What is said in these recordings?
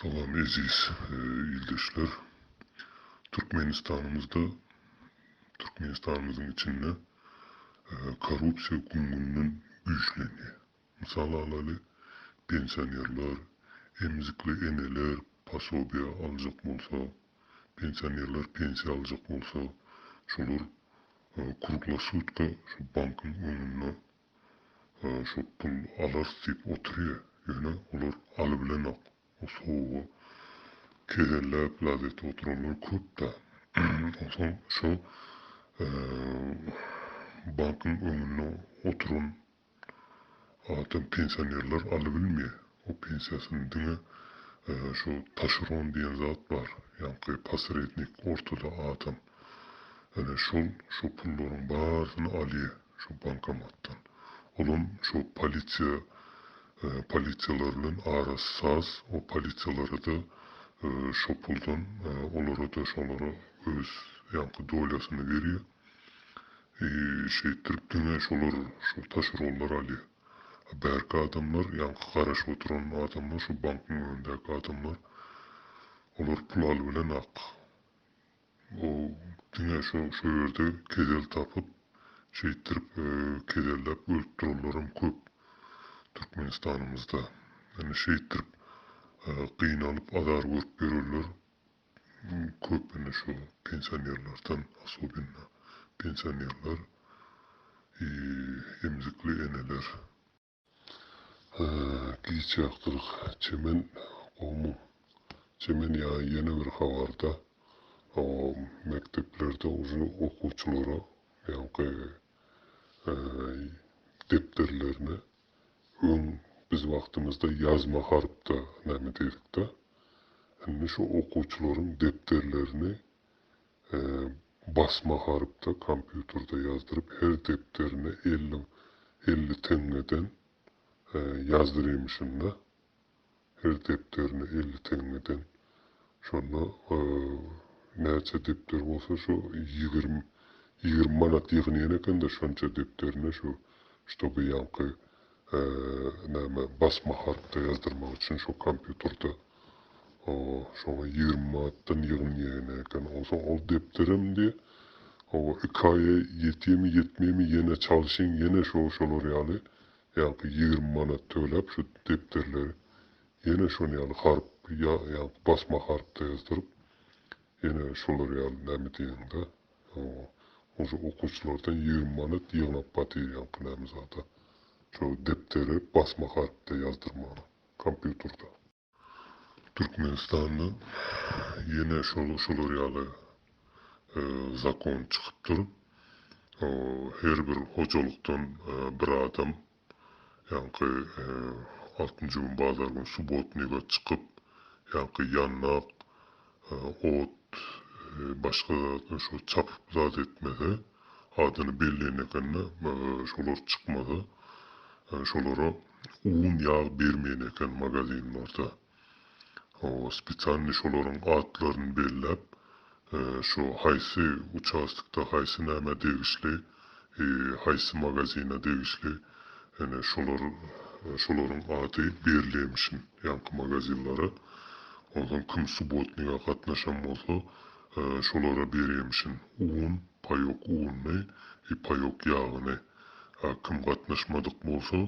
Salam eziz ildeşler. Türkmenistanymyzda, Türkmenistanymyzyň içinde korrupsiýa gün-günden güýçlenýär. Mysal alaly, pensionerler, emzikli eneler posobiýa aljak bolsa, pensionerler pensiýa aljak bolsa, şolar kruglassutka şu bankyň öňünde Şo pul alarys diýip otyrýa ýöne olar alybilenok o sowugy kezelläp lazette oturanlar köp da onsoň şo bankyň öňünde oturan adam pensionerler alybilmeýä O pensiýasyny diňe şu taşeron diýen zat bar, ýaňky posrednik ortada adam. Ene şol şu pullaryň barysyny alýa şu bankomatdan. Olam şu polisiýa polisiýalar bilen arasy saz, o polisiýalarada şu puldan olarada şolara öz ýaňky dolýasyny berýa. I şeýtdirip diňe şolar şu taşeronlar alýa. Bärki adamlar ýaňky garaşyp oturan adamlar şu bankyň öňündäki adamlar olar pul alybilen ak o diňe şo şo ýerde kesel tapyp şeýtdirip keselläp ölüp duranlaram köp Türkmenistanymyzda indi şeýtdirip gynalyp azar görüp ýörenler köplenç şu pensionerlerden asobinno pensionerler i emzikli eneler. Giç ýakdyryk çemen gowmy çemen ýa ýene bir habarda mekdeplerde uje okuwçylara ýaňky depderlerine Öň biz wagtymyzda ýazma harpda näme diýdikda, indi şu okuwçylaryň depderlerini basma harpda kompýuterde ýazdyryp her depderine elli elli teňňeden ýazdyryýmyşyn-da. her depderine elli teňňeden. Şonda näçe depder bolsa şo ýigrimi ýigrimi manat ýygnaýan ekende şonça depderine şu ştoby ýaňky näme basma harpda ýazdyrmak üçin şo kompýuterda şoňa ýigrimi manatdan ýygnaýan eken onsoň ol depderem diýe oba iki aýa ýetýemi ýetmeými ýene çalşyň ýene şo şolar ýaly Ýaňky ýigrimi manat töläp şu depderleri ýene şon ýaly harp ýa ýaňky basma harpda ýazdyryp ýene şolar ýaly näme diýeniňde onşa okuwçylardan ýigrimi manat ýygnap gatyr ýaňky näme zada şo depderi basma harpda ýazdyrmaga kompýuterda. Türkmenistanda ýene şol şular ýaly zakon çykypdyr. Her bir hojalykdan bir adam ýaňky altynjy gün bazar gün subotnyga çykyp ýaňky ýandak Ot başga zatdan şo çapyp zat etmese, adyny belleýän ekende, şolar çykmasa, şolara un ýag bermeýän eken magazinlarda. Hawa spesialnyý şolaryň atlaryny belläp, şo haýsy uçastokda haýsy nämä degişli, haýsy magazine degişli ene şolar şolaryň ady berilemişin ýaňky magazinlara onsoň kim subotniga gatnaşan bolsa şolara berýemişin un paýok uny i paýok ýagyny a kim gatnaşmadyk bolsa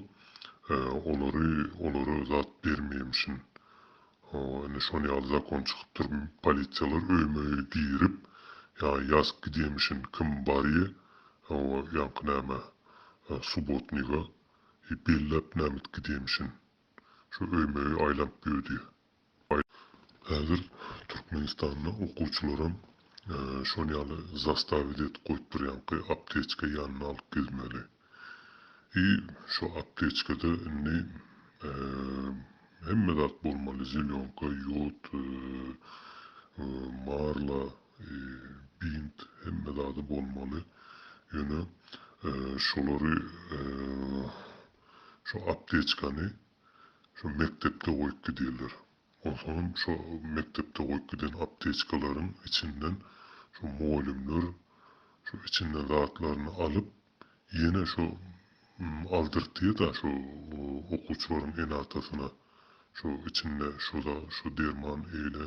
olary olara zat bermeýemişin Ho, indi şon ýaly zakon çykypdyr, polisiýalar öýme-öý girip, ýa ýazyp gidýemişin, kim barýa, ho, ýaňky näme, subotniga, i belläp nämit gidýemişin. Şo öýme-öý aýlanyp ýödýä. Häzir Türkmenistanda okuwçylaram şon ýaly zastawit edip goýupdyr, ýaňky apteçka ýanyna alyp gezmeli. I şu aptečkada indi hemme zat bolmaly zelýonka ýod marla bint hemme zady bolmaly ýöne şolary şu aptečkany şu mekdepde goýup gidýärler onsoňam şu mekdepde goýup giden aptečkalaryň içinden şu mugallymlar şu içinden zatlaryny alyp Ýene şu aldyrtyda şu okuwçylaryň ene-atasyna şu içinde şoda şu derman eýle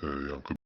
ýaňky.